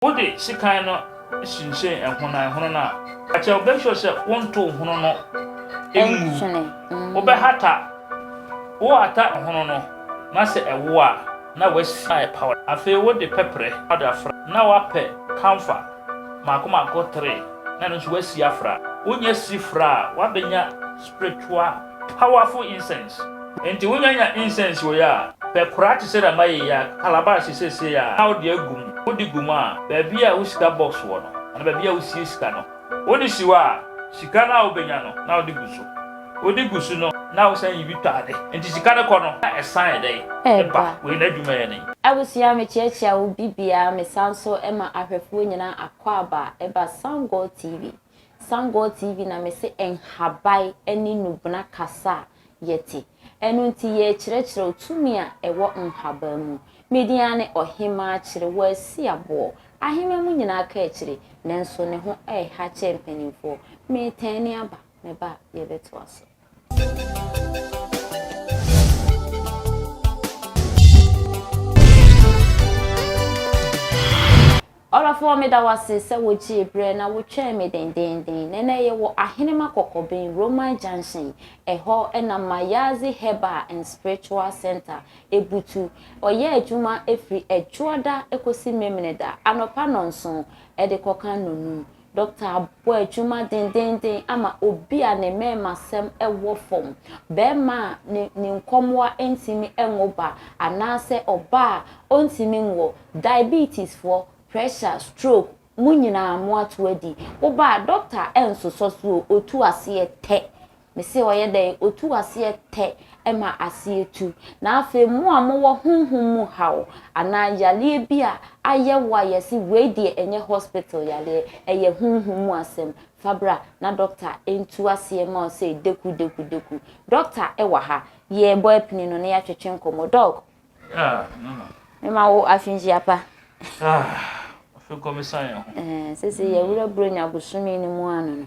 Wode sekan no sensɛn ɛhono na ɛhono no a, ka kyerɛ, make sure sɛ wontow hono no ngu. Wobɛhata, wohata hono no na sɛ ɛwo a, na wasi na ayɛ powder. Afei wode pɛprɛ powder afra na woapɛ camphor mmaako mmaako three na ɛno nso woasi afra. Wonya si fra a, woabenya spiritual. Powerful incense. Enti wonya nya incense wei a, pɛ koraa te sɛ dɛ mayɛ yi a, calabash sesei a, na wode agu mu. Wode gu mu a, baabi a wo sika box wɔ no, anaa baabi a wosie sika no, wode si hɔ a, sika no a wobɛnya no, na wode gu so. Wode gu so no, na wosan yi bi tɔ ade. Enti sika no kɔ no, na ɛsan yɛ dɛn? Ɛba. Wei n'adwuma yɛ dɛn? Abusua, mekyeakyea wo bibia, mesan so ma ahwɛfoɔ nyinaa akwaaba, ɛba Sun Gold TV. Sun God TV na mese nhabae ɛne nubena kasa a yɛte. Ɛno nti yɛrekyerɛkyerɛ wo tumi a ɛwɔ nhabae mu. Me din ara ne Ɔhemaa Kyere Wasi Aboɔ. Aheman mu nyinaa ka akyire, nanso ne ho ɛreha kyɛɛ mpaninfoɔ. Meretɛne aba, meba a yɛbɛtoa so. Ɔdɔfoɔ meda wo ase sɛ wogyee berɛ na wotwɛn me dendeenden. Nɛnɛ yɛwɔ Ahenema Kɔkɔben, Roman Junction. Ɛhɔ na Mayazi Herbal and Spiritual Centre butu. Wɔyɛ adwuma firi Ɛdwoɔda kɔsi Memeneda anɔpa nnɔnson de kɔka nnɔnum. Dɔkta abɔ adwuma dendeenden ama obi a ne mmarimasɛm wɔ fam, barima a ne ne nkɔmmoa ntumi nwo ba, anaasɛ ɔbaa a ɔntumi nwo, diabetesfoɔ, pressure, stroke, mo nyinaa moato adi. Woba a, dɔkta nsosɔ so o, ɔtu aseɛ tɛ. Mese ɔyɛ dɛn? Otu aseɛ tɛ ma aseɛ tu. Na afei mo a mowɔ honhom mu haw anaa yareɛ bi a ayɛ wo a yɛse wei deɛ ɛnyɛ hospital yareɛ, ɛyɛ honhom mu asɛm, fa bra na dɔkta ntu aseɛ ma wo sei deku deku deku. Dɔkta wɔ ha. Yɛrebɔ apini no na yɛatwetwe nkɔmmɔ. Dɔk. Ah, Nana. Mema wo afenhyia pa. Ah, afei kɔ mesan yɛn ho. Ɛɛ, seesei yɛawura Buronya bosome no mu ano no.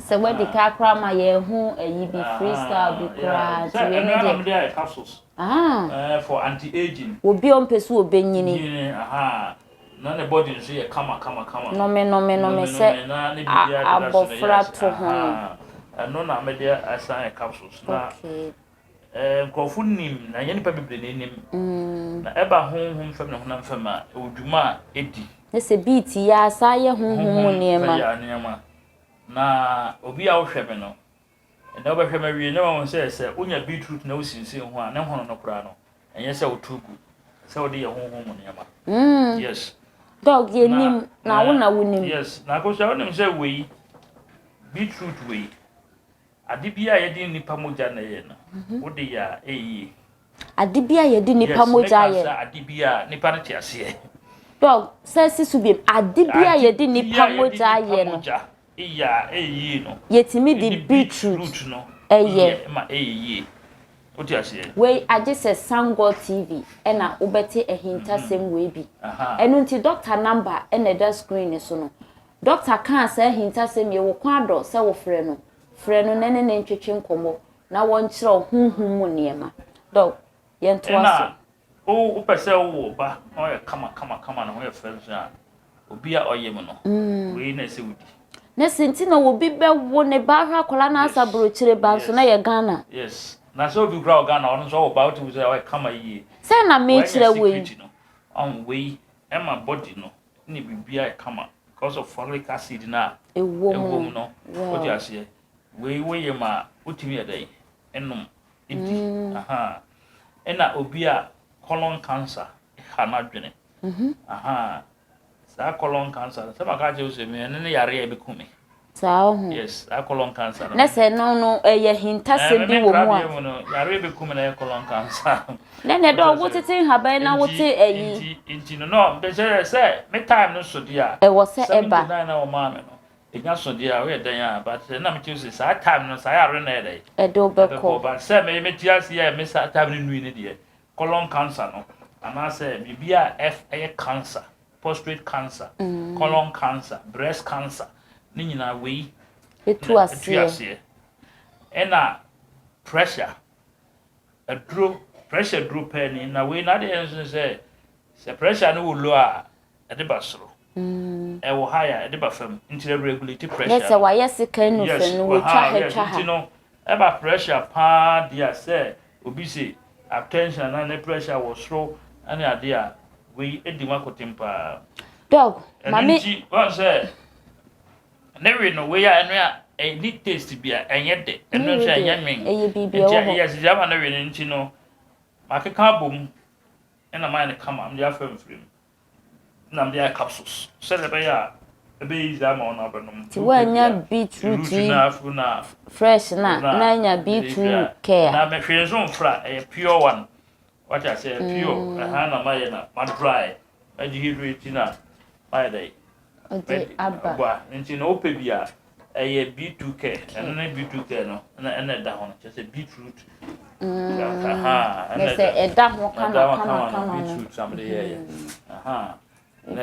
Sɛ wadi ka koraa ma yɛn ho ayi bi freestyle bi koraa nti wei ne deɛ. Ah. For anti aging. Obi a ɔmpɛ so ɔbɛnyini. Nyini aha. Na ne body nso yɛ kama kama kama. Nome nome nome sɛ abɔfra to ho. Ɛno na mede asan yɛ capsules na. Okay. Ɛɛ, nkurɔfo nim, na ɛnyɛ nnipa bebree na ɛnim. Na ɛba honhom fam ne honam fam a, ɛwɔ dwuma a ɛdi. Ne sɛ beat yi ara saa yɛ honhom mu nneɛma. Honhom fɛ yɛ nneɛma. Na obi a wohwɛ me no, ɛnnɛ wobɛhwɛ me awie na wahu sɛ, sɛ wonya beetroot na wosinsen ho a, ne hono no koraa no, ɛnyɛ sɛ wotow gu. Sɛ wode yɛ honhom mu nneɛma. Yes. Dog yɛ nim, na wo na wonim. Yes. Na Akosua, wonim sɛ wei, beetroot wei. Ade bi a yɛde nnipa mogya na ɛyɛ no, wode yɛ a, ɛyɛ yie. Ade bi a yɛde nnipa mogya yɛ. Yes, mɛka sɛ ade bi a nnipa no te aseɛ. Dɔg, sɛ si so biem. Ade bi a yɛde nnipa mogya yɛ no. Ade bi a yɛde nnipa mogya yɛ a, ɛyɛ yie no. Yɛtumi de beetroot no yɛ ma ɛyɛ yie. Wote aseɛ? Wei agye sɛ Sangor TV ɛna wobɛte ahintasɛm wei bi. Ɛno nti dɔkta namba ɛna ɛda screen no so no. Dɔkta kaa saa ahintasɛm yi, Wo kɔn adɔ sɛ wofrɛ no. Frɛ no na ne ne ntwetwe nkɔmmɔ na wɔnkyerɛw honhom mu nneɛma. Dɔk. Yɛntoa so. Ɛnna wo, wopɛ sɛ wowo ɔba na ɔyɛ kama kama kama, ne ho yɛ fɛ nso a, obi a ɔyem no, wei na ɛsɛ wodi. Ne se nti na obi bɛwo ne ba ahwɛ akwadaa no asa burokyire ba nso na ɛyɛ Ghana. Yes. Na sɛ obi koraa wɔ Ghana, ɔno nso ɔwo ba a, wotumi hu sɛ ɔyɛ kama yie. Sɛn na mekyerɛ wei? Wanya security no, ɔho, wei ɛma body no ne biribi ayɛ kama because of folic acid no a ɛwɔ mu no wote aseɛ wei woyɛ ma a wotumi yɛ dɛn ɛnom ɛdi mm. aha ɛna obi a colon cancer ha n'adwene mm-hmm. aha saa colon cancer sɛ maka kyerɛ wo sɛ me ɛno ne yare a ɛbɛku me Saa oho. Yes a colon cancer no. Na sɛ no no ɛyɛ eh, hintasɛm bi wɔ mu a. Mu no yareɛ bi kum na ɛyɛ colon cancer. Na na ɛdɔ wo tete nhaban na wo te ɛyi. Nti nti no no bɛsɛ sɛ me time no so deɛ a. Ɛwɔ sɛ ɛba. Seventy nine na wɔn maa me no ɛnya so deɛ a woyɛ dɛn a but sɛ na mekyerɛ sɛ saa time no saa yare no ɛdɛ ɛde wobɛkɔ but sɛ me mete ase yɛ me saa time no nui no deɛ colon cancer no anaasɛ biribi a ɛyɛ cancer, prostate cancer, colon cancer, breast cancer, ne nyinaa wei ɛtu aseɛ. Ɛna pressure, aduro, pressure duro pɛɛ ni, na wei n'adeɛ nso sɛ, sɛ pressure no wɔ low a, ɛde ba soro. Ɛwɔ high a ɛde ba fam nti na regulate pressure no. Yes sɛ wayɛ sekan no fam no wɔ twa ha twa ha. Nti no ɛba pressure paa deɛ a sɛ obi se hypertension anaa ne pressure wɔ soro ɛne adeɛ a wei edi mu akoten paa. Doc ma me. Ɛno nti wɔn sɛ ne we no wei a ɛno a ɛni taste bi a ɛnyɛ dɛ ɛno nso ɛnyɛ nwen. Ɛyɛ biribi ɛwɔ hɔ. Yes deɛ ama ne we no nti no makeka abom ɛna mayɛ no kama mede afa mfiri mu. Ɛna meyɛɛ capsules sɛdeɛ ɛbɛyɛ a ɛbɛyɛ easy ama wɔn abɛnom. Ti wanya beetroot yi fresh na na anya beetroot care. Na me hwee nso mfra ɛyɛ pure one wate aseɛ pure ɛhaa na mayɛ na ma dry ma dehydrate na mayɛ dɛ de aba. Boa nti na wopɛ bi a, ɛyɛ beetu kɛ, ɛno ne beetu kɛ no ɛna ɛna ɛda ho no, kyerɛ sɛ beetroot. Ɛna sɛ ɛda ho kama kama kama no. Beetroot na mede yɛɛyɛ. Na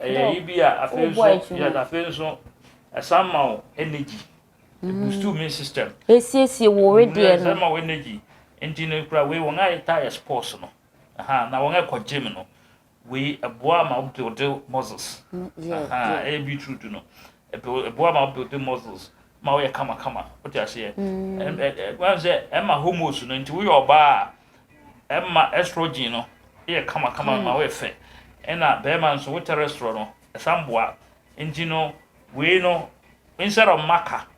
ɛyɛ yi bi a afei nso yɛ afei nso ɛsan ma wo energy. Boost me system. Esiesie wo wedeɛ no. Ɛsan ma wo energy. Nti no kura wei wɔn a yɛtaa yɛ sports no. Na wɔn a ɛkɔ gym no. Wei ɛboa ma wo build muscles. Ɛyɛ beetroot no ɛboa ma wo build muscles ma woyɛ kamakama wote aseɛ. Ɛma sɛ ɛma homos no nti woyɛ ɔbaa a ɛma estrogen no yɛ kamakama ma woyɛ fɛ. Ɛna bɛrima nso wo terestrol no ɛsan boa nti no wei no instead of maka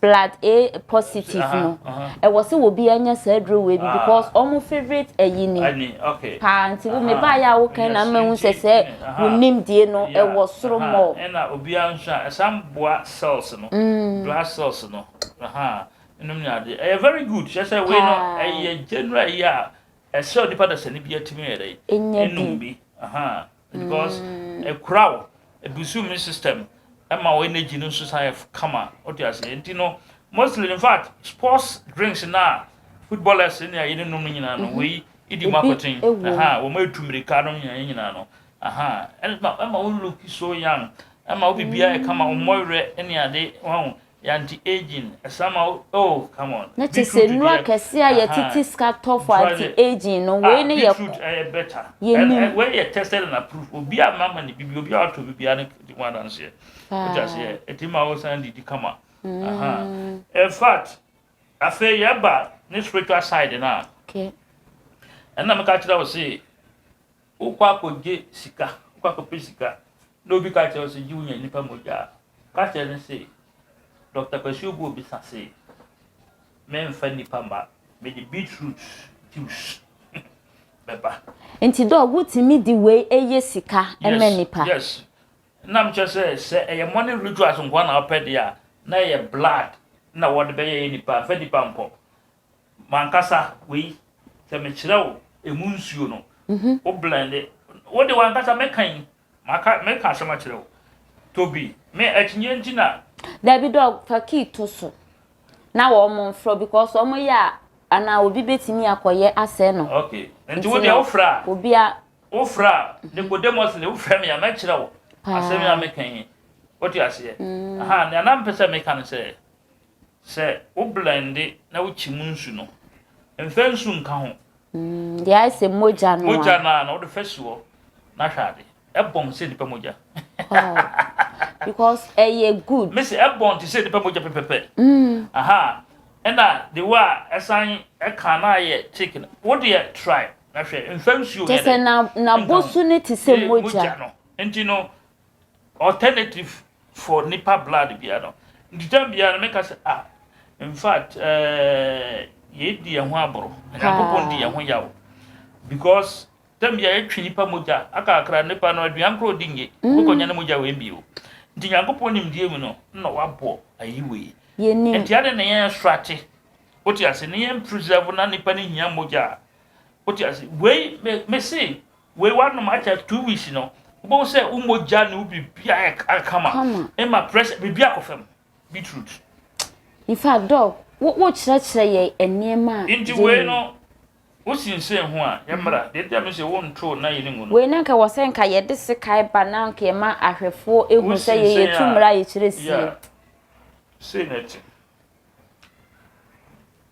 blood A positive no ɛwɔ sɛ obiara nya saa aduro wei bi because wɔn favourite ayi ni paa nti wo mebaeɛ a wokan na ama hu sɛ sɛ wo nimdie no ɛwɔ soro mɔɔ. ɛna obiara nso a ɛsan boa cells no blood cells no nom ne adeɛ ɛyɛ very good kyerɛ sɛ wei no ɛyɛ general yi a ɛsɛ onipa dasani biara tumi yɛ dɛn ɛnum bi. because ɛkura wo ɛbusu immune system ɛma wo energy no nso san yɛ kama wote aseɛ nti no mostly in fact sports drinks no a footballers ne ayɛ no nom no nyinaa no wei ɛdi mu akɔten wɔn ɛtu mmirika nom nyinaa nyinaa no ɛma wo look so young ɛma wo biribiara yɛ kama wo mmɔwerɛ ne ade wɔn Yɛ anti aging ɛsa ma wo oh come on. Ne te sɛ nnuro akɛseɛ a yɛtete sika tɔ for anti aging no, wei ne yɛ kɔ. Ah beetroot ɛyɛ better. Yɛnim. Ɛ wei yɛ tested and approved, obi a mama ne bibi, obi a watɔ bi biara ne di ho adanseɛ. Paa. Wote aseɛ? Ɛtumi ma wo san didi kama. Aha. In fact, afei yɛba ne spiritual side no a. Okay. Ɛna meka kyerɛ wo se, Wokɔ akɔgye sika, wokɔ akɔpɛ sika na obi ka kyerɛ wo sɛ gye wonya nnipa mogya a, ka kyerɛ no se, Dɔkta Kwasi Obuo bisa se, memfa nnipa mma, mede beetroot juice bɛba. Nti Doc, wotumi de wei yɛ sika ma nnipa? Yes, yes. Na mekyerɛ sɛ, sɛ ɛyɛ morning rituals nko ara na wopɛ deɛ a, na ɛyɛ blood na wɔde bɛyɛ nnipa, mfa nnipa nkɔ. M'ankasa wei sɛ mekyerɛ wo emu nsuo no, wo blend, wo de w'ankasa mɛka yi, maka mɛka asɛm akyerɛ wo. Tobi, me akyinnye nti na. Dabi dog fa key to so na wɔn mo nfrɛ because wɔn mo yɛ a anaa obi bɛtumi akɔ yɛ asɛe no. Okay, nti wo deɛ wo frɛ a. Obi a. Wo frɛ a, Nicodemously wo frɛ me a mɛkyerɛ wo asɛm yi a meka yi. Wote aseɛ? Ahaa, nea na mpɛ sɛ meka ne sɛ. Sɛ wo blɛnde na wo kyim nsu no, mfa nsu nka ho. Deɛ ayɛ sɛ mogya no a. Mogya no a na wode fa si hɔ na hwɛ ade. Ɛbɔn te sɛ nipa mogya. Because ɛyɛ good. Me se ɛbɔn te sɛ nipa mogya pɛpɛpɛ. Aha ɛna the way a ɛsan ɛka na ayɛ thick no, wo deɛ try na hwɛ. Mfa nsuo nyɛ dɛ. Kyɛ sɛ n'abosu no te sɛ mogya. Mogya no nti no Alternative for nipa blood bia no ntitam bia no meka sɛ ah infact eh yei di yɛn ho aboro na nyankopɔn di yɛn ho yaw because tam bia yɛtwe nipa mogya akakra nipa no aduan koro di nye wokɔ nya ne mogya wei bio nti nyankopɔn nimdeɛ mu no na wabɔ ayi wei nti ade na yɛn strate wote ase ne yɛn preserve na nipa no hia mogya a wote ase wei mese Wei wanom akyɛ two weeks no wobɛhu sɛ wo mogya ne wo biribia yɛ kama ɛma pressure biribia kɔ fam beetroot nfa dɔ wokyerɛkyerɛ yɛ nneɛma a nti wei no wosinsen ho a yɛmmra deɛ nti a mesɛ wontoo na yɛne ngu no wei na nka wɔ sɛ nka yɛde sekae ba na nka yɛma ahwɛfoɔ ɛhu sɛ yɛyɛ tu mmra yɛkyerɛ sie sei na ɛte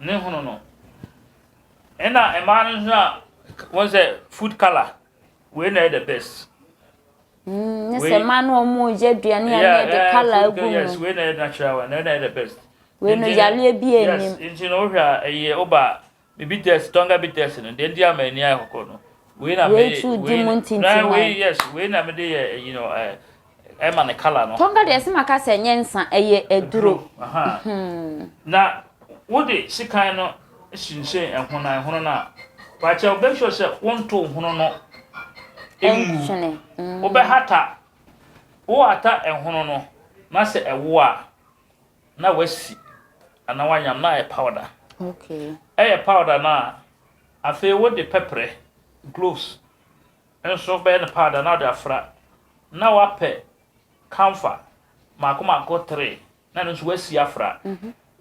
ne hono no ɛna mmaa no nso a wɔn sɛ food colour wei na ɛyɛ the best. Mm, ne sɛ mmaa no wɔn yɛ aduane a ne de colour agu mu. yes wei na ɛyɛ natural one na ɛyɛ the best. wei no yareɛ bi anim. yes nti na wohwɛ a ɛyɛ ɔba bibi test tɔnga bi test no deɛ nti ama ani ayɛ kɔkɔɔ no wei na mɛ wei tu di mu ntintima wei yes wei na mɛ de yɛ ɛyi no ɛɛ. Ɛma ne kala no. Tonga deɛ ɛsɛ maka sɛ ɛnyɛ nsa, ɛyɛ aduro. Na wode sekan no hyinhyɛn ɛhono na ɛhono no a, pakyɛw make sure sɛ wonto hono no ngu. Wobɛhata, wohata ɛhono no na sɛ ɛwo a na wasi anaa wanyam na ayɛ powder. Ɛyɛ powder no a, afei wode pɛprɛ, gloves. Nso bɛyɛ no paada na ɔde afra na wapɛ kamfa mako mako three na ɛno nso wasi afra.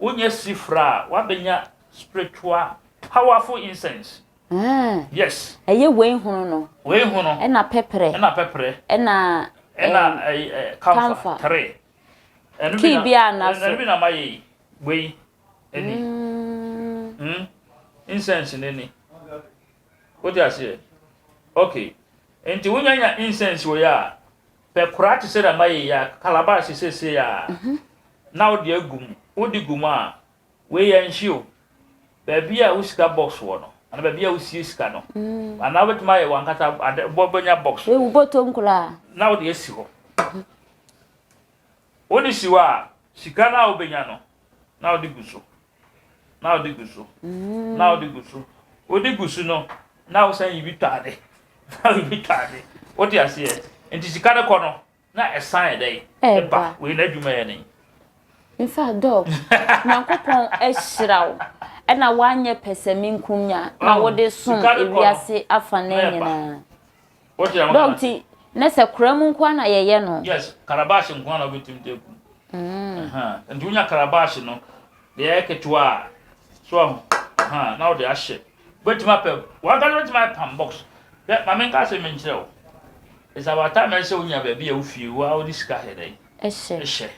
Wonya si fra a wabɛnya spiritual powerful incense. Yes. Ɛyɛ wei hono no. Wei hono. Ɛna pɛprɛ. Ɛna pɛprɛ. Ɛna ɛna kamfa three. Kii bi a na so. Ɛno bi na ma yɛ yi. Wei ɛni. Incense no ɛni. Wote aseɛ? Okay. Nti wonya nya incense wei a, pɛ koraa te sɛ dɛ mayeyɛ a, calabash seesei a, na wode agu mu. Wode gu mu a, wei yɛ nhye o. Baabi a wo sika box wɔ no, anaa baabi a wosie sika no, anaa wobɛtumi ayɛ w'ankasa ade, wobɛnya box. Wei wo bɔtɔm koraa. Na wode asi hɔ. Wode si hɔ a, sika no a wobɛnya no, na wode gu so. na wode gu so na wode gu so wode gu so no na wosan yi bi tɔ ade na yi bi tɔ ade wote aseɛ nti sika no kɔ no na ɛsan yɛ dɛn ɛba wei na adwuma yɛ ne nfa dɔk nyankopɔn ahyira wo ɛna woanyɛ pɛsɛmenkumnya na wode som ewiase afa no nyinaa Dɔg ti na sɛ kura mu nko na yɛyɛ no. Yes, karabaahye nko na wobɛtumi de agu. Mm. Nti wonya karabaahye no, deɛ ɛyɛ ketewa a, so ahu, na wode ahyɛ. Wobɛtumi apɛ, wankasa wobɛtumi ayɛ pam box. Hwɛ, ma menka asɛm bi nkyerɛ wo. It's about time ɛsɛ sɛ wonya baabi a wofie, wo a wode sika hɛ dɛn? Ɛhyɛ. Ɛhyɛ.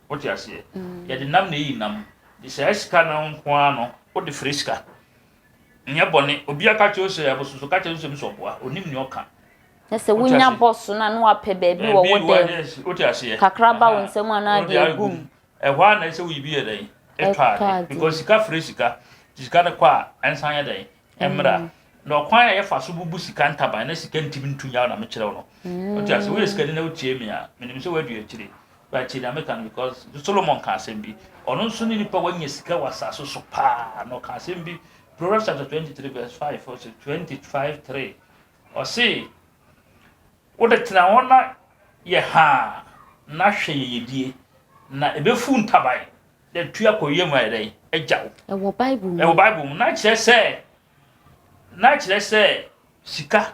Wote aseɛ? Mm. Yɛde nam na ɛyi nam. Nti saa sika no nko ara no, wode fere sika. Nyɛ bɔne. Obia ka kyerɛ wo sɛ abosom so, ka kyerɛ no sɛ ɔpɛsɛ ɔboa. Ɔnim nea ɔka. Na sɛ wonya bɔ so no a na wapɛ baabi wɔ wo dan mu. Kakra ba wo nsam a na wode agu mu. Ɛhɔ ara na ɛsɛ sɛ woyi bi yɛ dɛn? Tɔ ade. Because sika frɛ sika. Nti sika no kɔ a, ɛnsan nyɛ dɛn? Ɛmmra. Na ɔkwan a yɛfa so bubu sika ntaban na sika ntumi ntu nyaw na mekyerɛ wo no. Wote aseɛ? Woyɛ sikani na wotie me a, menim sɛ woadu akyire. But tie nea meka no because Solomon ka asɛm bi. Ɔno nso ne nipa wanya sika wɔ asase so paa na ɔka asɛm bi. Proverbs chapter twenty three verse five ɔsɛ twenty five three ɔse wode tena hɔ na yɛ haa na hwɛ yɛyɛdie na ɛbɛfu ntaban na tu akɔ yam ayɛ dɛn agya wo. Ɛwɔ Bible mu. Ɛwɔ Bible mu na kyerɛ sɛ na kyerɛ sɛ sika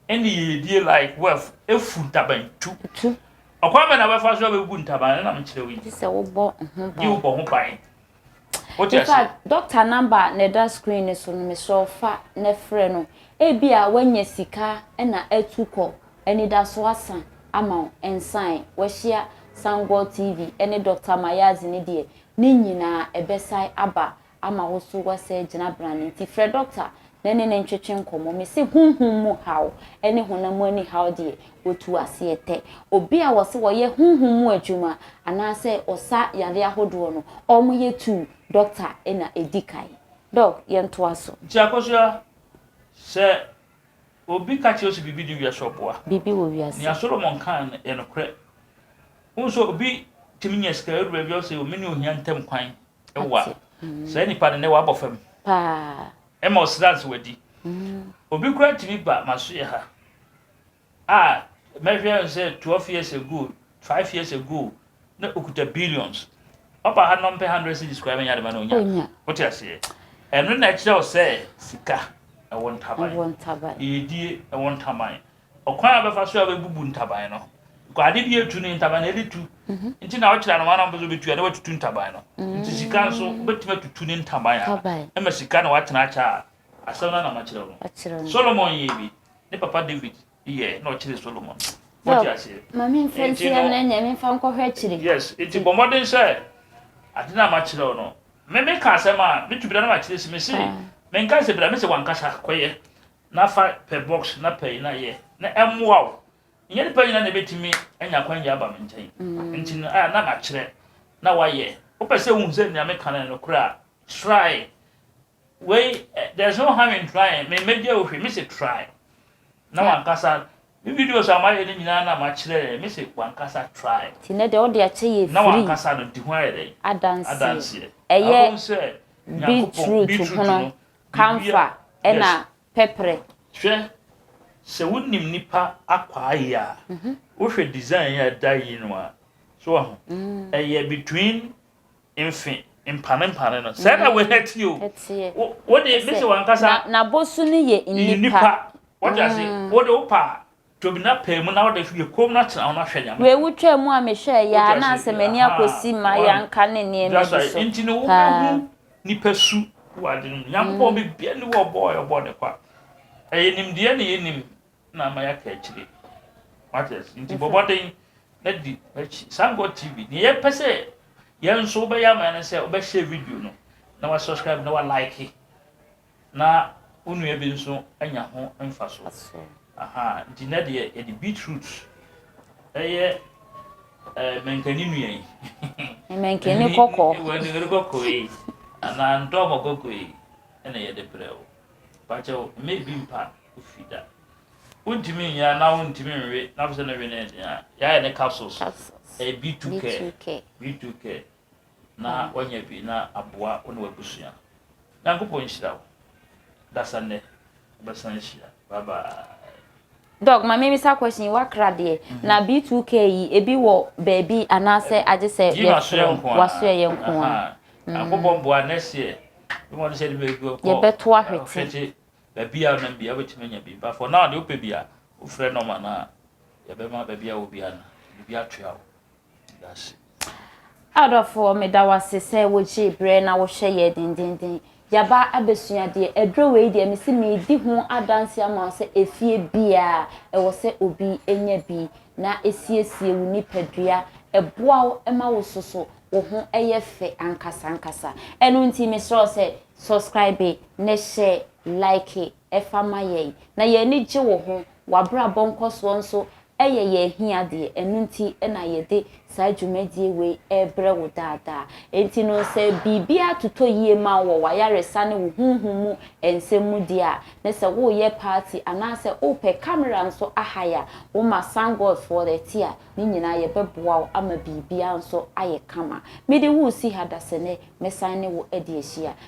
Ɛnde yiedie like wef efu ntaban tu. Tu. Ɔkwan bɛn na wobɛfa so abɛbu ntaban no na mekyerɛ wo yi? Gye sɛ wobɔ ho ban. Gye wobɔ ho ban. Wote ase? Nipa doctor number na ɛda screen no so no mesrɛ wo fa na frɛ no. Ebi a wanya sika na atu kɔ anidaso asa ama wo nsae. Wahyia Sun Gold TV ne Doctor Mayadze ne deɛ ne nyinaa ɛbɛsan aba ama wo so woasɛe gyinabea no nti, frɛ dɔkta na ne no ntwetwe nkɔmmɔ. Mese honhom mu haw ne honam mu anihaw deɛ, wɔtu ase yɛ tɛ. Obi a wɔse wɔyɛ honhom mu adwuma anaasɛ ɔsa yareɛ ahodoɔ no, wɔyɛ tu dɔkta na ɛdi kan. Dɔk, yɛntoa so. Nti akosua, sɛ obi ka kyerɛ wo sɛ biribi di wiase ɔboa. Biribi wɔ wiase. Nea Solomon kae no yɛ nokorɛ. Wohu sɛ obi tumi nya sika, ɔduru baabi a ɔse o me ne ohia ntam kwan. Ewa. Saa nipa no nɛ wabɔ fam. Paa. Ɛma ɔsrans wadi. Obi koraa tumi ba maso yɛ ha a mɛhwɛ no sɛ twelve years ago, five years ago na okuta billions. Ɔba ha na ɔmpɛ hundred cities koraa bɛnya dema na onya. Onya. Wote aseɛ? Ɛno na ɛkyerɛ wo sɛ sika ɛwɔ ntaban. Ɛwɔ ntaban. Yiedie ɛwɔ ntaban. Ɔkwan a ɔbɛfa so a wabubu ntaban no, because ade bi etu ne ntaban na ɛde tu, mhm. nti na ɔkyerɛ no wɔn a wɔpɛ sɛ ɔbɛtu a na watutu ntaban no, nti sika nso wobɛtumi atutu ne ntaban a ɛma sika na watena akyɛ a asɛm no anam akyerɛ no. Solomon yɛ bi, ne papa David yɛ na ɔkyerɛ Solomon. Wɔte aseɛ. Maame nfa nsi ya na nyame nfa nkɔhwɛ akyire. Yes, nti bɔ mmɔden sɛ ade na makyerɛ no. Me me ka asɛm a, me tu bi na makyerɛ si me se, ah. me nka sɛ bira me sɛ wankasa kɔyɛ. na fa pɛ box na pɛi na yɛ na ɛmmoa wo. Nyɛ nipa nyina na ebetumi anya kwan gya aba me nkyɛn. Nti no a na makyerɛ na wayɛ. Wopɛ sɛ wohu sɛ nea meka no yɛ nokorɛ a, try. Wei there's no harm in trying. Me mmegya wo hwee, mese try. Na wankasa me videos a mayɛ no nyinaa na makyerɛ yɛ, mese wankasa try. Nti nɛ deɛ wode akyɛ yɛ free. Na wankasa no di ho ayɛ dɛn? Adanseɛ. Ɛyɛ beetroot hono. Kamfa na pɛprɛ. Hwɛ, sɛ wonim nnipa akwaaye a, wohwɛ design yi a ɛda yi no a, so wahu? Ɛyɛ between mfe mpanempanen no. Sɛɛ na wei teɛ o. Ɛteɛ. Wo, wo de, me se w'ankasa. Na, n'abosu no yɛ nnipa. Nnipa. Wate aseɛ? Wo de, wo pa a, Tobi na pae mu na wode hwe koom na tena ho na hwɛ nyame. Wei wo twaa mu a me hwɛɛ yaa na asɛ m'ani akɔsi ma yanka ne nneɛma bi so paa. Nipa su wɔ adwene mu nyankopɔn biribiara ni wɔ ɔbɔɔ yɛ ɔbɔɔ ne kwa ɛyɛ nimdeɛ na yɛ nim na ama yɛ aka akyire matters nti bɔbɔden na di makyi sun god tv ne yɛ pɛ sɛ yɛn nso wobɛyɛ ama yɛ ne sɛ wobɛhyɛ video no na wa subscribe na wa like na wo nua bi nso anya ho mfaso. Nti nnɛ deɛ yɛde beetroot ɛyɛ eh, mankani nua yi. mankani kɔkɔɔ. mankani kɔkɔɔ yi anaa ntɔmɔ kɔkɔɔ yi ɛna yɛde brɛ wo. Bakyɛ wo mma ebi mpa ofi da. Wontumi nyɛ anaa wontumi nwe na wopɛ sɛ ne we ne den a, yɛayɛ ne capsules. Ɛyɛ eh, B2 care. B2 care. na wanya bi na aboa wo ne w'abusua. Nyankopɔn nhyira wo. Adasa nnɛ, yɛbɛsan ahyia. Bye bye. Doc, ma memmisa question yi, w'akra deɛ, mm-hmm. na B2K yi, ebi wɔ baabi anaasɛ agye sɛ yɛfrɛ w'asoɛ yɛ nko a. Nyankopɔn boa next year, mmɔ no sɛ de bɛgu kɔ yɛbɛto ahwete baabi a nam bia wobɛtumi anya bi but for now deɛ wopɛ bi a wofrɛ nɔma no a yɛbɛma baabi a wɔ bia no biribi atoa wo Adɔfoɔ, meda wo ase sɛ wogyee berɛ na wohwɛ yɛ dendenden. Yɛaba abɛsua adeɛ. Aduro wei deɛ, mesi medi ho adanse ama wo sɛ efie biara ɛwɔ sɛ obi nya bi na ɛsiesie wo nipadua, ɛboa wo ma wo soso, wo ho yɛ fɛ ankasa ankasa. Ɛno nti mesrɛ wo sɛ subscribe na share, like ɛfa ma yɛn, na yɛn ani gye wo ho. W'abrabɔ nkɔsoɔ nso yɛ yɛn ahiadeɛ, ɛno nti na yɛde saa dwumadie wei rebrɛ wo daa daa. Enti no sɛ biribiara totɔ yie ma wo wɔ w'ayaresa ne wo honhom mu nsɛm mu deɛ a, ne sɛ woreyɛ party anaasɛ wopɛ camera nso ahire a, wo ma Thank God for the ti a, ne nyinaa yɛbɛboa wo ama biribiara nso ayɛ kama. Mede wo resi ha dasɛnɛ, mɛsan ne wo adi ahyia.